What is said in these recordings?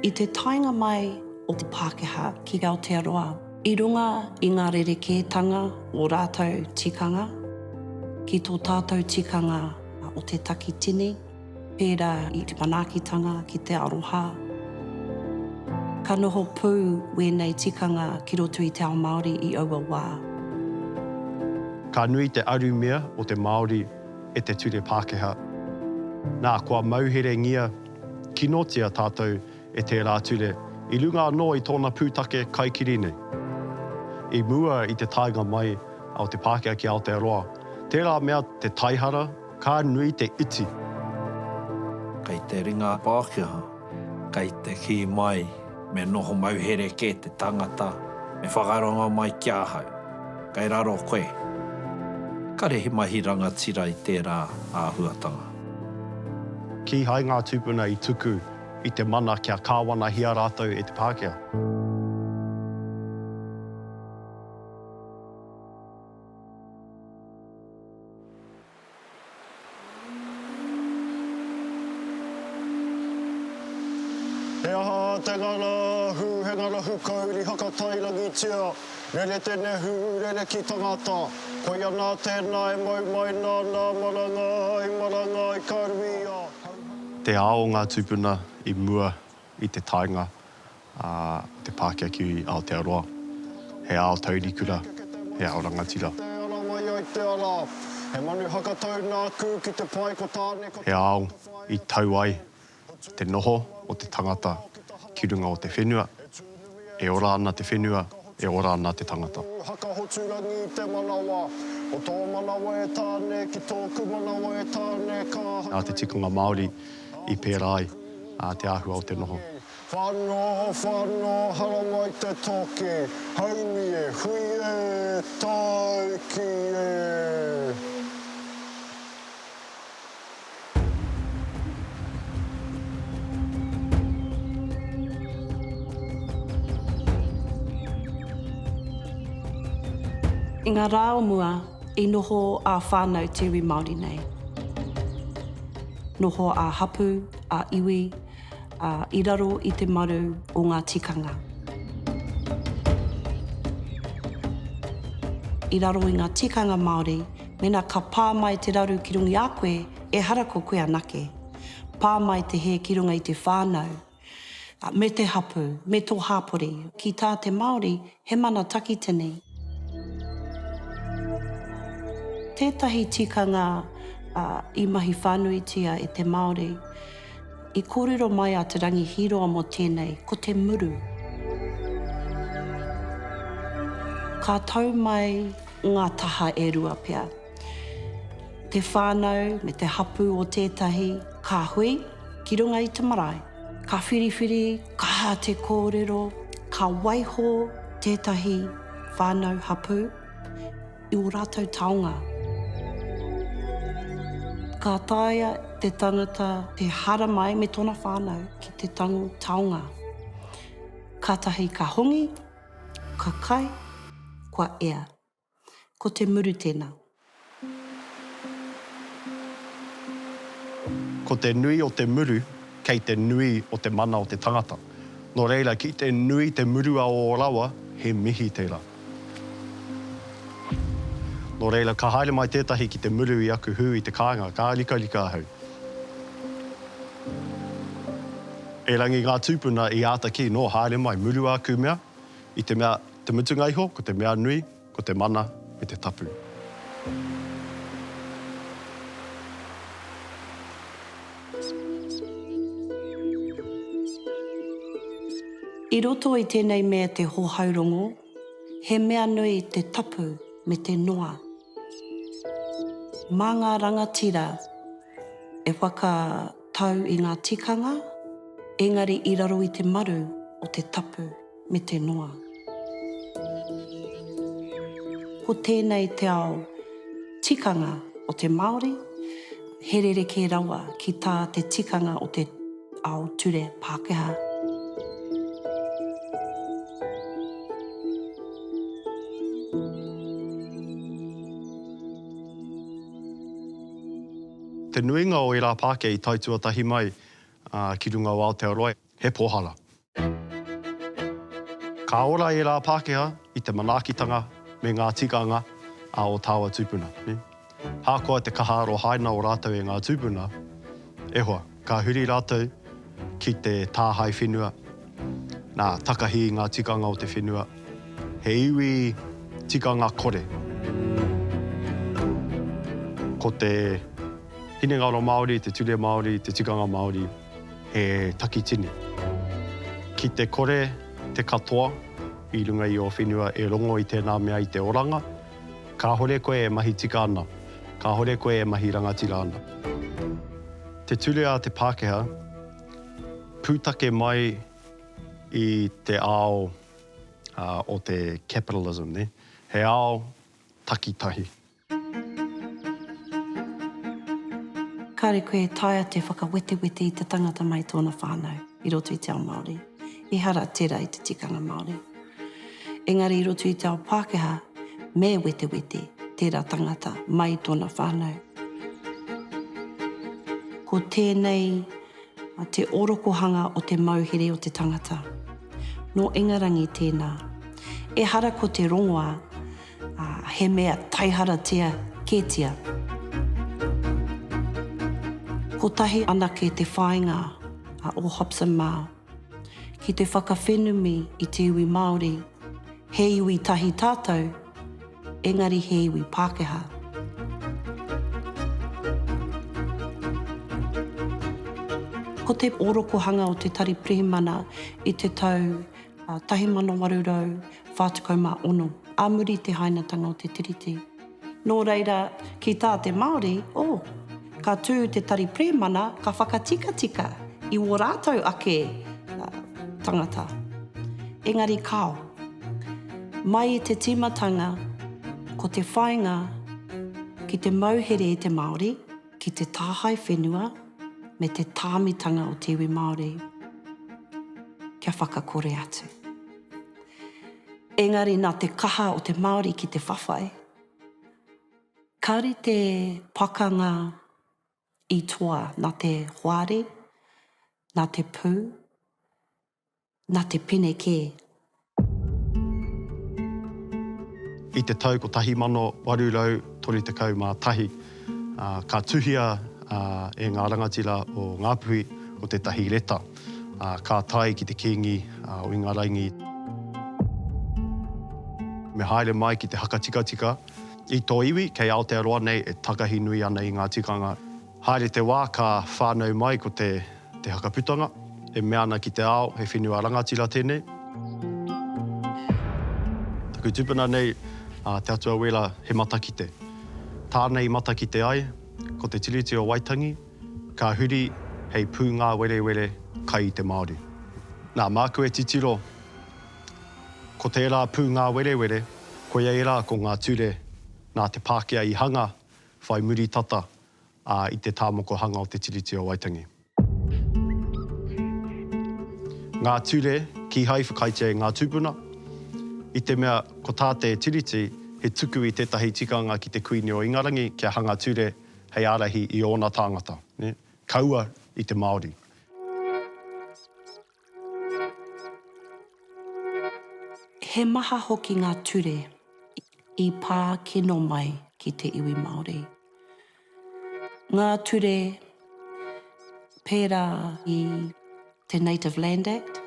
I te taenga mai o te Pākehā ki Aotearoa, i runga i ngā rerekētanga o rātou tikanga, ki tō tātou tikanga o te takitini, pērā i te manaakitanga ki te aroha, ka noho pū wēnei tikanga ki roto i te ao Māori i aua wā. Ka nui te arumia o te Māori. e te ture Pākehā. Nā, kua mauherengia kinotia tātou e tērā ture, i runga anō i tōna pūtake kaikiri nei. I mua i te taenga mai o te Pākehā ki Aotearoa, tērā mea te taihara, ka nui te iti. Kei te ringa Pākehā. Kei te kī mai, Me noho mauhere kē te tangata, me whakarongo mai ki ahau. Kei raro koe. Kare he mahi rangatira i tērā āhuatanga. Kīhai ngā tūpuna i tuku i te mana kia kāwanahia rātou e te Pākehā. He aha te ngara ahu, he ngara hukauri hakatairangitia, rere te nehu, rere ki tangata. Koia nā tēnā e mau mai nā nā marangai, marangai ka ruia, hau hau. Te ao ngā tupuna i mua i te taenga a te Pākiakiu i Aotearoa, he ao taurikura, he ao rangatira. He ao i tau ai te noho o te tangata ki runga o te whenua, e ora ana te whenua, e ora ana te tangata. Ō Hakahoturangi i te manawa, ko tō manawa e Tāne ki tōku manawa e Tāne ka haere. Nā te tikanga Māori i pērā ai te āhua o te noho. Whano, whano, haramai te toki, haumi e, hui e, taiki e! I ngā rā o mua, i noho ā whānau te iwi Māori nei. Noho ā hapū, ā iwi, ā, i raro i te maru o ngā tikanga. I raro i ngā tikanga Māori, Mena ka pā mai te raru ki runga i a koe, ehara ko koe anake. Pā mai te hē ki runga i te whānau, me te hapū, me tō hāpori. Ki tā te Māori, he mana takitini. Tētahi tikanga i mahi whānuitia e te Māori, i kōrero mai a Te Rangi Hīroa mō tēnei, ko te muru. Ka tau mai ngā taha e rua pea. Te whānau me te hapū o tētahi ka hui ki runga i te marae. Ka whiriwhiri, ka aha te kōrero, ka waiho tētahi whānau hapū i ō rātou taonga. Ka taea te tangata te haramai me tōna whānau ki te tango taonga. Kātahi ka hongi, Ka kai, kua ea. Ko te muru tena. Ko te nui o te muru, kei te nui o te mana o te tangata. No reira, ki te nui te muru a o rawa, he mihi tera. No reira, ka haere mai tetahi ki te muru i aku hu i te kainga, ka rikarika ahau. Erangi ngā tūpuna i āta kī nō haere mai murua aku mea, i te mea, te mutunga iho, ko te mea nui, ko te mana me te tapu. I roto i tēnei mea te hohaurongo, he mea nui te tapu me te noa. Mā ngā rangatira e whakatau i ngā tikanga, engari i raro i te maru o te tapu me te noa. Ko tēnei te ao tikanga o te Māori, He rerekē rawa ki tā te tikanga o te ao ture Pākehā. Te nuinga o ērā Pākehā i tae tuatahi mai ki runga o Aotearoa. he pohara. Ka ora ērā Pākehā i te manaakitanga me ngā tikanga a ō tāua tūpuna. Ahakoa te kaha arohaina o rātou e ngā tūpuna, e hoa, ka huri rātou ki te tāhae whenua, nā, takahi i ngā tikanga o te whenua, he iwi tikanga kore. Ko te hinengaro Māori, te ture Māori, te tikanga Māori. He takitini. Ki te kore te katoa i runga i ō whenua e rongo i tēnā mea i te oranga, kāore koe e mahi tika ana, kāore koe e mahi rangatira ana. Te ture a te Pākehā, pūtake mai i te ao o te capitalism, he ao takitahi. Kāre koe e taea te whakawetewete i te tangata mai tōna whānau i roto i te ao Māori, ehara tērā i te tikanga Māori. Engari i roto i te ao Pākehā, me wetewete tērā tangata mai tōna whānau. Ko tēnei te orokohanga o te mauhere o te tangata. Nō Ingarangi tēnā. Ehara ko te rongoā. Ā, he mea taiharatia kētia. Kotahi anake te whāinga a ō Hobson mā ki te whakawhenumi i te iwi Māori, he iwi tahi tātou, engari he iwi Pākehā. Ko te orokohanga o te Tari Pirihimana i te tau 1846, ā muri i te hainatanga o te Tiriti. Nō reira, ki tā te Māori, oh, ka tū te tari Prēmana ka whakatikatika i wō rātou ake tangata. Engari kāo. Mai i te tīmatanga ko te whāinga ki te mauhere i te Māori, ki te tāhae whenua me te tāmitanga o te iwi Māori kia whakakore atu. Engari nā te kaha o te Māori ki te whawhai, ka rite pakanga i toa nā te hoari, nā te pū, Na te pene kē. I te tau 1831, ka tuhia e ngā rangatira o Ngāpuhi ko tētahi reta, ka tae ki te Kīngi o Ingarangi. Me haere mai ki te Hakatikatika, i tō iwi, kei Aotearoa nei e takahi nui ana i ngā tikanga. Haere te wā ka whānau mai ko te Te Haka Putanga, e mea ana ki te ao, he whenua rangatira tēnei. Taku tupuna nei, a Te Atua Wela, he matakite. Tāna i matakite ai, ko te Tiriti o Waitangi, ka huri hei pūngāwerewere kai i te Māori. Nā, māku e titiro, ko tērā pūngāwerewere, koia ērā ko ngā ture nā te Pākehā i hanga whai muri tata i te tāmokohanga o Te Tiriti o Waitangi. Ngā ture, kīhai whakaaetia e ngā tūpuna, i te mea ko tā te Tiriti he tuku i tētahi tikanga ki te Kuini o Ingarangi kia hanga ture hei ārahi i ōna tāngata, kaua i te Māori. He maha hoki ngā ture i pā kino mai ki te iwi Māori. Ngā ture pērā i te Native Land Act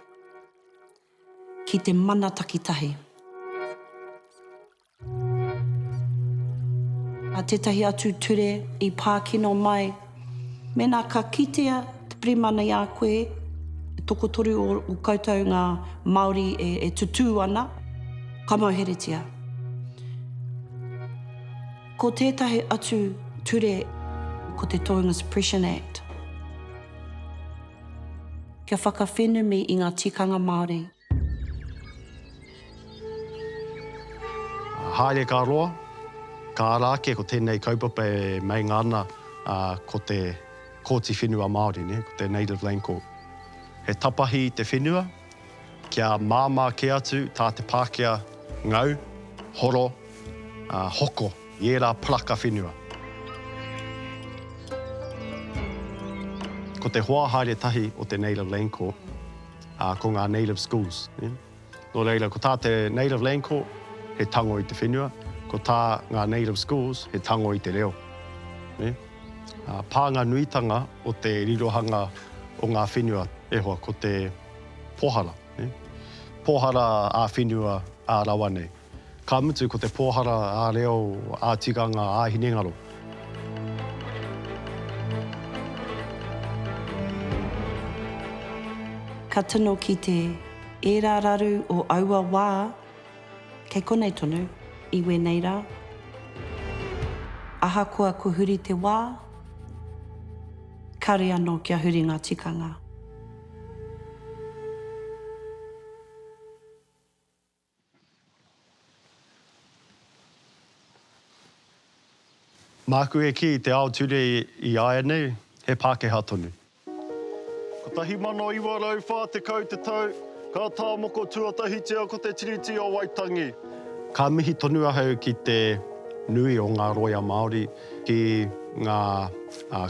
ki te mana takitahi. A tētahi atu ture i pākino mai, mēnā ka kitea te Pirihimana i a koe, e tokotoru o koutou ngā Māori e tutū ana, ka mauheretia. Ko tētahi atu ture, ko te Tohunga Suppression Act, kia whakawhenumi i ngā tikanga Māori. Haere ka roa, ka ara ake ko tēnei kaupapa e meinga ana ko te Kōti Whenua Māori, ko te Native Land Court. He tapahi i te whenua kia māmā kē atu tā te Pākehā ngau, horo, hoko i ērā paraka whenua. Ko te hoa haere tahi o te Native Land Court, Ā, ko ngā native schools, nē. Nō reira, ko tā te Native Land Court, he tango i te whenua, ko tā ngā native schools, he tango i te reo. Nē? Ā, pānga nuitanga o te rirohanga o ngā whenua, e hoa, ko te pōhara, nē? Pōhara ā-whenua, ā-rawa nei. Ka mutu ko te pōhara ā-reo, ā-tikanga, ā-hinengaro. Ka tino kite ērā raru o aua wā kei konei tonu, i wēnei rā. Ahakoa kua huri te wā, kare anō kia huri ngā tikanga. Māku e kī i te ao ture i āianei, he Pākehā tonu. 1940 te tau, ka tāmoko tuatahitia ko te Tiriti o Waitangi. Ka mihi tonu ahau ki te nui o ngā rōia Māori, ki ngā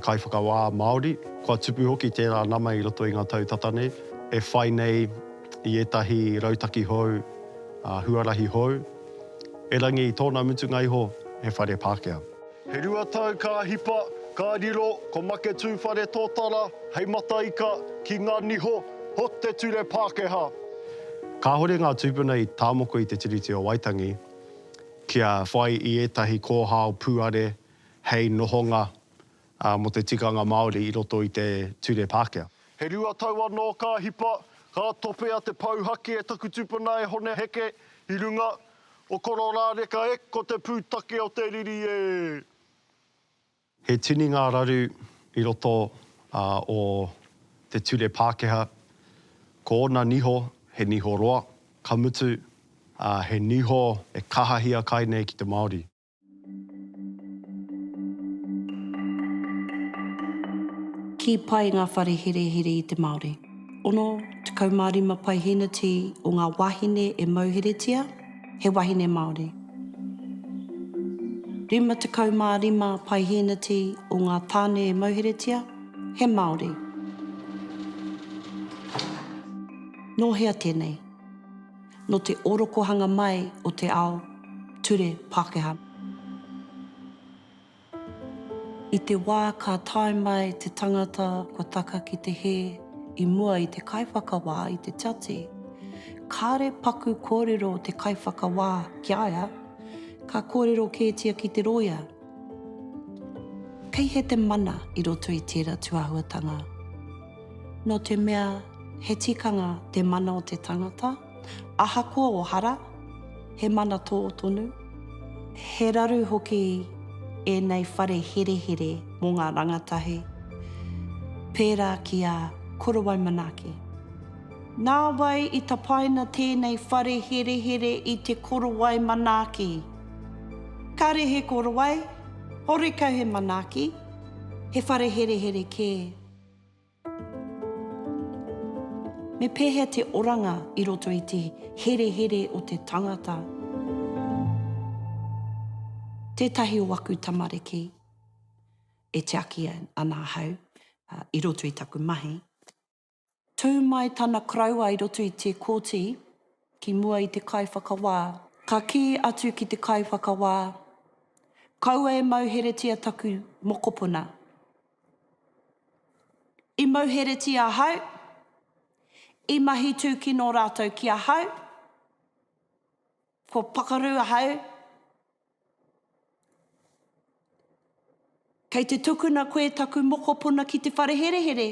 kaiwhakawā Māori, kua tupu hoki tērā nama i roto i ngā tau tata nei, e whai nei, i ētahi rautaki hou, ā, huarahi hou, erangi i tōna mutunga iho he whare Pākehā. He rua tau ka hipa, ka riro ko Make Tūwhare Tōtara hei mataika ki ngā niho o te ture Pākehā. Kāhore ngā tūpuna i tāmoko i te Tiriti o Waitangi kia whai i ētahi kōhao pūare hei nohonga Ā, mō te tikanga Māori i roto i te Ture Pākehā. He rua tau anō ka hipa, ka topea te pou haki e taku tupuna e Hone Heke i runga, o Kororāreka e ko te pūtake o te riri e. He tini ngā raru i roto o te Ture Pākehā, ko ōna niho he niho roa, ka mutu, he niho e kahahia kai nei ki te Māori. Kī pai ngā whare herehere i te Māori. 65 paihēneti o ngā wāhine e mauheretia, he wahine Māori. 55 paihēneti o ngā tāne e mauheretia, he Māori. Nō hea tēnei? nō te orokohanga mai o te ao ture Pākehā. I te wā ka tae mai te tangata kua taka ki te hē i mua i te kaiwhakawā i te tiati, kāre paku kōrero te kaiwhakawā ki a ia, ka kōrero kētia ki te rōia. Kei hea te mana i roto i tērā tūāhuatanga? Nō te mea he tikanga te mana o te tangata, ahakoa o hara, he mana tō tonu. He raru hoki ēnei whare herehere mō ngā rangatahi, pērā ki a Korowai Manaaki. Nāwai i tapaina tēnei whare herehere i te Korowai Manaaki. Kāre he Korowai, horekau he Manaaki, he whare herehere kē. Me pēhea te oranga i roto i te herehere o te tangata? Tētahi o aku tamariki e tiaki ana ahau i roto i taku mahi, tū mai tana koroua i roto i te kōti ki mua i te kaiwhakawā. Ka kī atu ki te kaiwhakawā, Kaua e mauheretia taku mokopuna. I mauheretia ahau, i mahi tūkino rātou ki ahau, kua pakaru ahau, kei te tukuna koe taku mokopuna ki te whare herehere,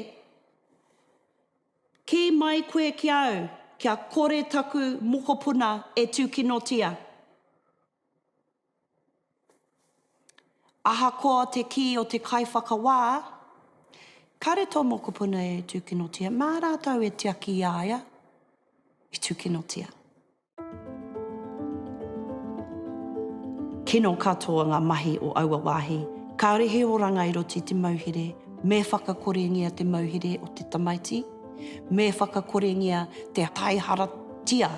kī mai koe ki a au, kia kore taku mokopuna e tūkinotia. Ahakoa te kī o te kaiwhakawā, kāre tō mokopuna e tūkinotia, mā rātou e tiaki i a ia i tūkinotia. Kino katoa ngā mahi o aua wāhi. Kāore he oranga i roto i te mauhere, me whakakorengia te mauhere o te tamaiti, me whakakorengia te taiharatia.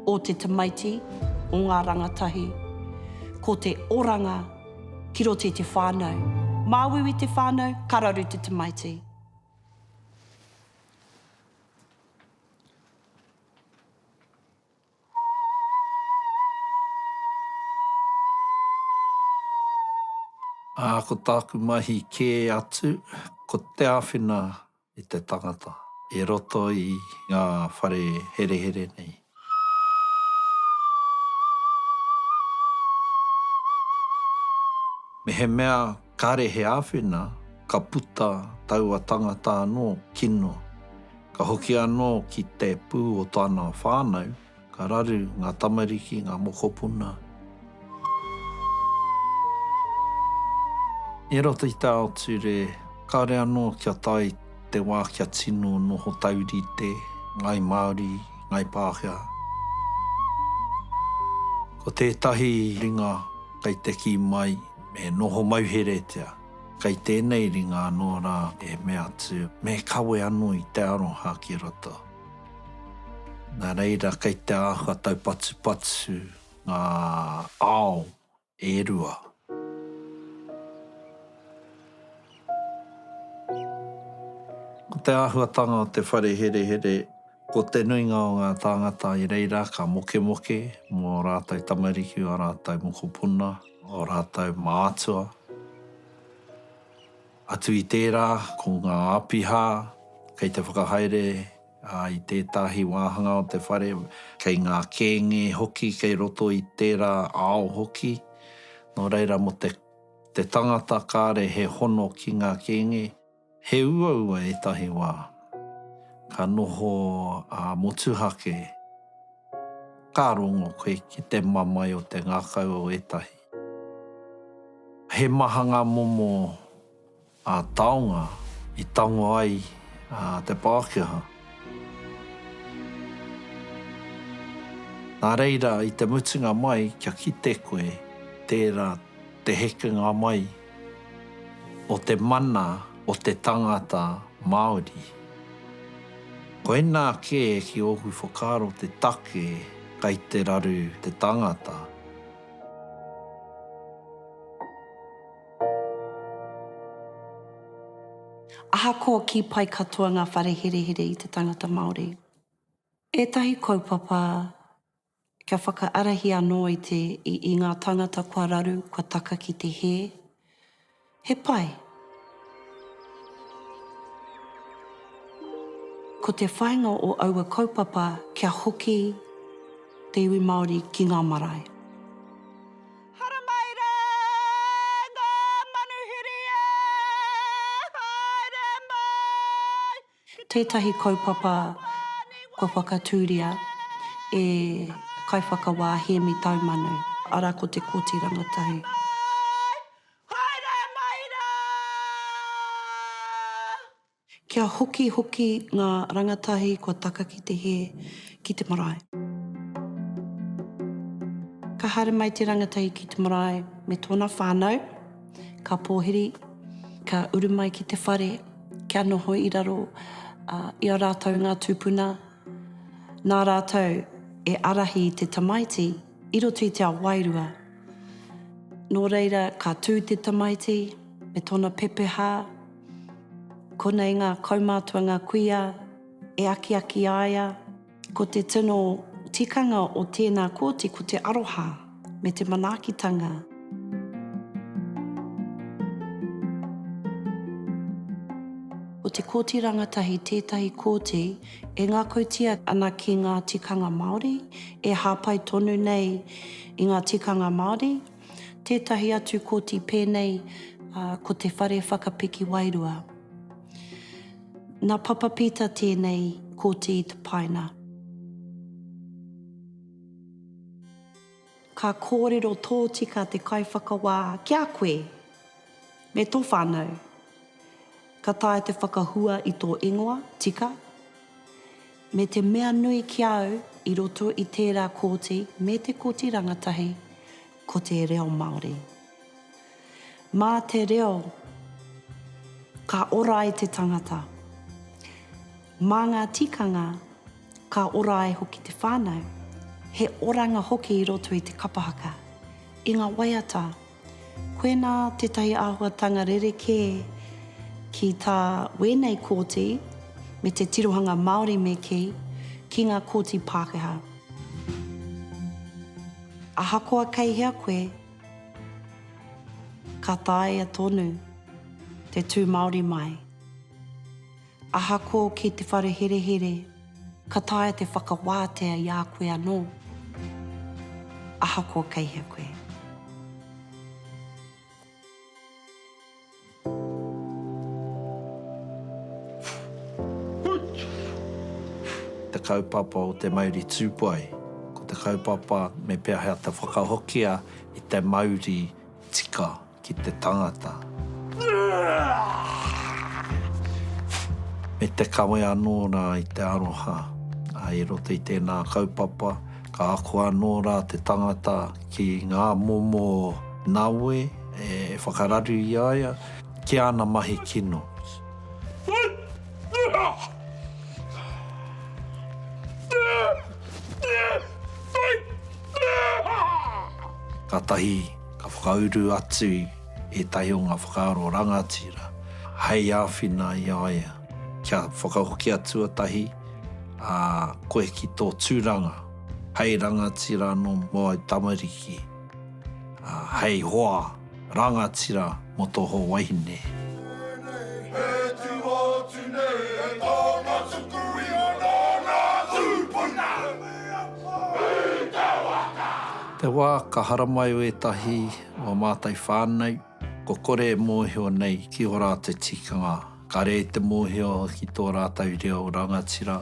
o te tamaiti, o ngā rangatahi. Ko te oranga ki roto i te whānau. Māuiui te whānau, ka raru te tamaiti. Ā, ko tāku mahi kē atu, ko te āwhina i te tangata i roto i ngā whare herehere nei. Mehemea kāre he āwhina, ka puta taua tangata anō kino, ka hoki anō ki te pū o tana whānau, Ka raru ngā tamariki, ngā mokopuna. I roto i te ao ture, kāore anō kia tae te wā kia tino noho taurite ngāi Māori, ngāi Pākehā. Ko tētahi ringa kei te kī mai me noho mauheretia, kei tēnei ringa anō rā e mea atu me kawe anō i te aroha ki roto. Nā reira kei te āhua taupatupatu ngā ao e rua. Ko te āhuatanga o te whare herehere, ko te nuinga o ngā tāngata i reira ka mokemoke mō ō rātou tamariki, ō rātou mokopuna, ō rātou mātua. Atu i tērā, ko ngā āpiha kei te whakahaere i tētahi wāhanga o te whare, kei ngā kēnge hoki kei roto i tērā ao hoki, nō reira mō te tangata kāre he hono ki ngā kēnge, he uaua ētahi wā, ka noho motuhake, ka rongo koe ki te mamae o te ngākau o ētahi. He maha ngā momo taonga i tango ai te Pākehā. Nā reira, i te mutunga mai, kia kite koe, tērā te hekenga mai o te mana o te tangata Māori. Koinā kē ki ōku whakaaro te take kei te raru te tangata. Ahakoa kī pai katoa ngā whare herehere i te tangata Māori, ētahi kaupapa kia whakaarahi anō i te, i ngā tāngata kua raru, kua taka ki te hē. He pai. Ko te whainga o aua kaupapa kia hoki te iwi Maori ki nga marae. Haramairaa! Ngā manuhiri ā! Haere mai! Tētahi kaupapa kua whakatūria e Kaiwhakawā Hēmi Taumanu. Arā ko te Kōti Rangatahi. Kia hoki hoki ngā rangatahi kua taka ki te hē, ki te marae. Ka haere mai te rangatahi ki te marae me tōna whānau. Ka pōhiri, ka uru mai ki te whare kia noho i raro i a rātou ngā tūpuna, nā rātou e ārahi i te tamaiti i roto i te ao wairua. Nō reira ka tū te tamaiti me tōna pepehā, konei ngā kaumātua ngā kuia e akiaki aia, Ko te tino tikanga o tēnā kōti ko te aroha me te manaakitanga. Ko te kōti rangatahi tētahi kōti e ngākautia ana ki ngā tikanga Māori, e hāpai tonu nei i ngā tikanga Māori, Tētahi atu koti pēnei ko Te Whare Whakapiki Wairua. Nā Papa Pita tēnei koti i tapaina. Ka kōrero tōtika te Kaiwhakawā ki a koe me tō whānau. Ka taea te whakahua i tō ingoa, tika. Me te mea nui ki a au i roto i tērā kōti me te koti rangatahi, ko te reo Māori. Mā te reo ka ora ai te tangata. Mā ngā tikanga ka ora ai hoki te whānau. He oranga hoki i roto i te kapa haka, i ngā waiata. Koinā tētahi āhuatanga rerekē ki tā wēnei kōti me te tirohanga Māori me kī, ki ngā kōti Pākehā. Ahakoa kei hea koe, ka taea tonu te tū Māori mai. Ahakoa ki te whare herehere, ka taea te whakawātea i a koe anō, ahakoa kei hea koe. Te kaupapa o te mauri tūpai, ko te kaupapa me pēhea te whakahokia i te mauri tika ki te tangata. Me te kawe anō rā i te aroha. I roto i tēnā kaupapa, ka ako anō rā te tangata ki ngā momo nawe e whakararu i a ia ki āna mahi kino. Kātahi. Ka whakauru atu ētahi o ngā whakaaro rangatira hei āwhina i a ia kia whakahokia tuatahi, ā, koe ki tō tūranga hei rangatira anō mō āu tamariki, ā, hei hoa rangatira mō tō hoa wahine. Tēnei he tino atu nei e tō matuku ingoa nō ngā tūpuna. Hei te waka! Te wā ka haramai o ētahi o a mātou whānau, kua kore e mōhio nei ki o rātou tikanga, ka rere te mōhio ki tō rātou reo rangatira.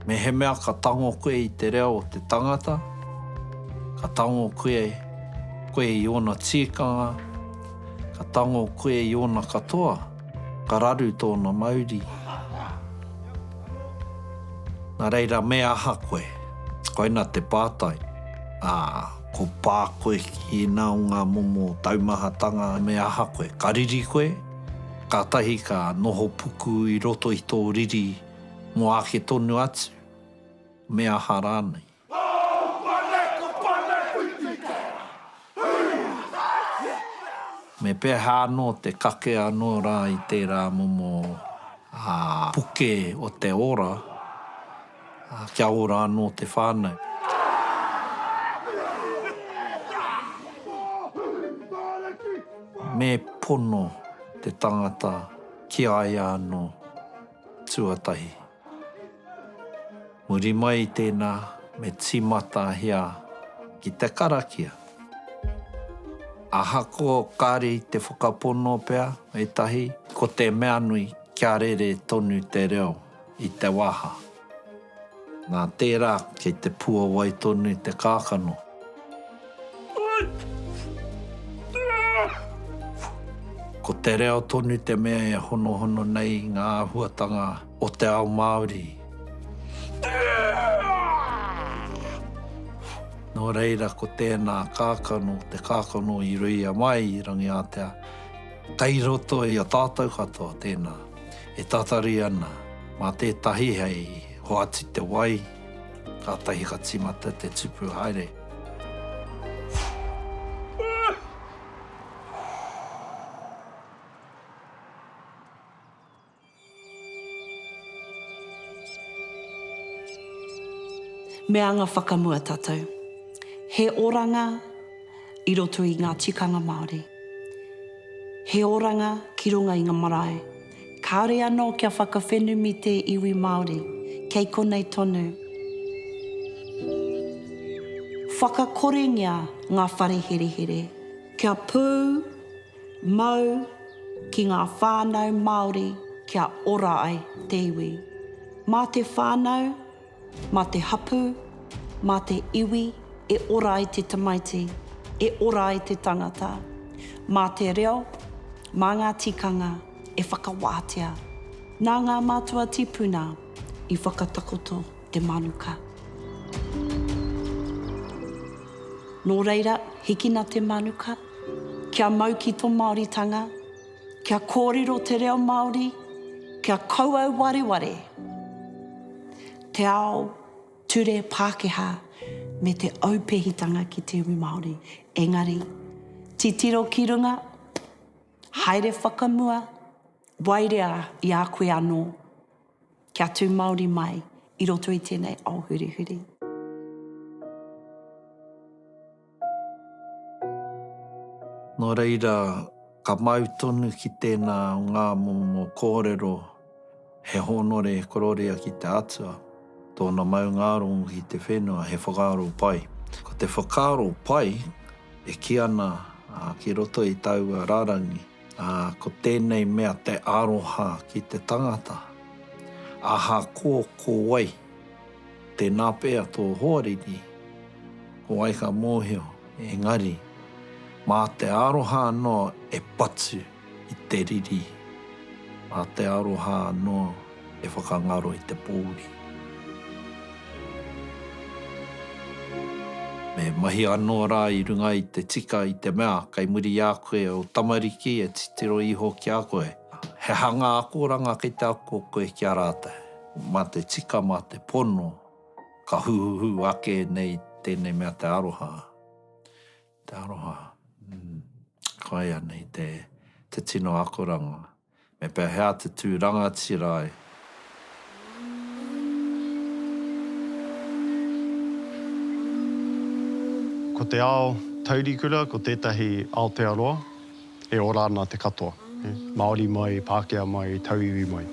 Mehemea ka tango koe i te reo o te tangata, ka tango koe koe i ōna tīkanga, ka tango koe i ōna katoa. Ka raru tōna mauri. Nā reira, me aha koe? Koina te pātai. Ā, ko pā koe ki ēnā o ngā momo taumahatanga, me aha koe? Ka riri koe? Kātahi ka noho puku i roto i tō riri mō āke tonu atu, me aha rānei? Me pēhea anō te kake anō rā i tērā momo puke o te ora kia ora anō te whānau? Me pono te tangata ki a ia anō tuatahi. Muri mai i tēnā, me tīmatahia ki te karakia. Ahakoa kāre i te whakapono pea ētahi, ko te mea nui kia rere tonu te reo i te waha. Nā tērā, kei te puawai tonu te kākano. Ko te reo tonu te mea e honohono nei ngā āhuatanga o te ao Māori. Nō reira ko tēnā kākano, te kākano i ruia mai i Rangiātea, kei roto i a tātou katoa tēnā e tatari ana mā tētahi hei hoati te wai, Kātahi ka tīmata te tupu haere. Me anga whakamua tātou. He oranga i roto i ngā tikanga Māori. He oranga ki runga i ngā marae. Kāore anō kia whakawhenumi tē iwi Māori, kei konei tonu. Whakakorengia ngā whare herehere. Kia pū, mau, ki ngā whānau Māori kia ora ai te iwi. Mā te whānau. Mā te hapū, mā te iwi e ora ai te tamaiti, e ora ai te tangata. Mā te reo, mā ngā tikanga e whakawātea. Nā ngā mātua tipuna i whakatakoto te manuka. Nō reira, hikina te manuka, kia mau ki tō Māoritanga. Kia kōrero te reo Māori, kia kouau wareware te ao ture Pākehā me te aupehitanga ki te iwi Māori. Engari, titiro ki runga, haere whakamua, waerea i a koe anō Kia tū Māori mai i roto i tēnei ao hurihuri. Nō reira, ka mau tonu ki tēnā o ngā momo kōrero he hōnore e kororia ki te Atua, tōna maungārongo ki te whenua, he whakaaro pai. Ko te whakaaro pai e kī ana ki roto i taua rārangi. Ā, ko tēnei mea te aroha ki te tangata, ahakoa ko wai, tēnā pea tō hoariri, ko wai ka mōhio, engari, mā te aroha anō e patu i te riri, mā te aroha anō. E whakangaro i te pōuri. Me mahi anō rā i runga i te tika i te mea kei muri i a koe ō tamariki e titiro iho ki a koe. He hanga akoranga kei te ako koe ki a rātou. Mā te tika, mā te pono, ka huhuhu ake nei tēnei mea te aroha. Te aroha, mm, koia nei te tino akoranga. Me pehea te tu rangatira ai? Ko te ao taurikura ko tētahi Aotearoa e ora ana te katoa, Māori mai, Pākehā mai, Tauiwi mai.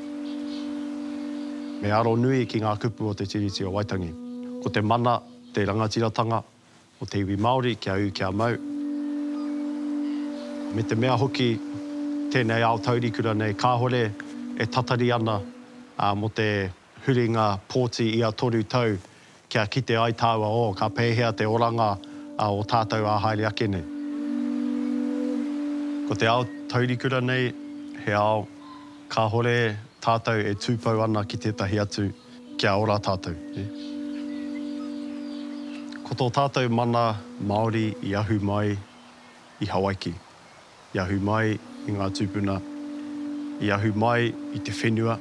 Me aro nui ki ngā kupu o Te Tiriti o Waitangi. Ko te mana, te rangatiratanga, o te iwi Māori kia ū kia mau, me te mea hoki tēnei ao taurikura nei kāore e tatari ana mō te huringa pōti ia toru tau kia kite ai tāua oh ka pēhea te oranga o tātou ā haere ake nei. Ko te ao taurikura nei he ao kāore tātou e tūpou ana ki tētahi atu. Kia ora tātou. Ko tō tātou mana Māori i ahu mai i Hawaiki, i ahu mai i ngā tūpuna, i ahu mai i te whenua,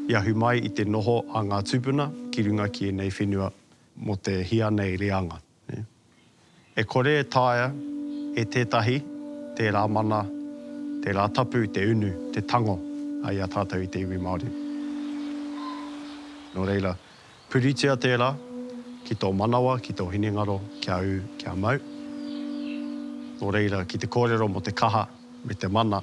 i ahu mai i te noho a ngā tūpuna ki runga ki ēnei whenua mō te hia nei reanga. E kore e taea e tētahi tērā mana, tērā tapu, te unu, te tango i a tātou i te iwi Māori. Nō reira, puritia tērā ki tō manawa, ki tō hinengaro kia ū, kia mau. Nō reira, ki te kōrero mō te kaha me te mana.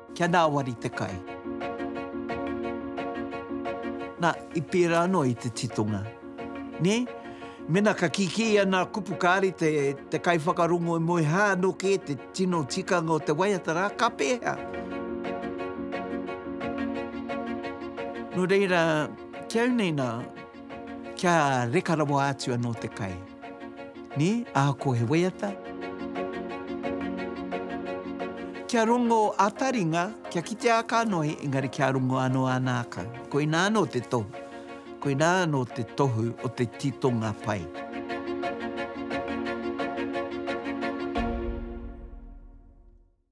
Kia ngāwari te kai. Na, i pērā noa i te titonga. Nē? Mēnā ka kikī ia nā kupu kāre te, te kaiwhakarongo e moe hā anō kē te tino tikanga o te waiata rā, ka pēhea? Nō reira, ki au nei nā, kia reka rawa atu anō te kai. Nē, ahako he waiata. Kia rongo a taringa, kia kite a kanohi, engari kia rongo anō a nākau. Koinā anō te tohu. Koinā anō te tohu o te titonga pai.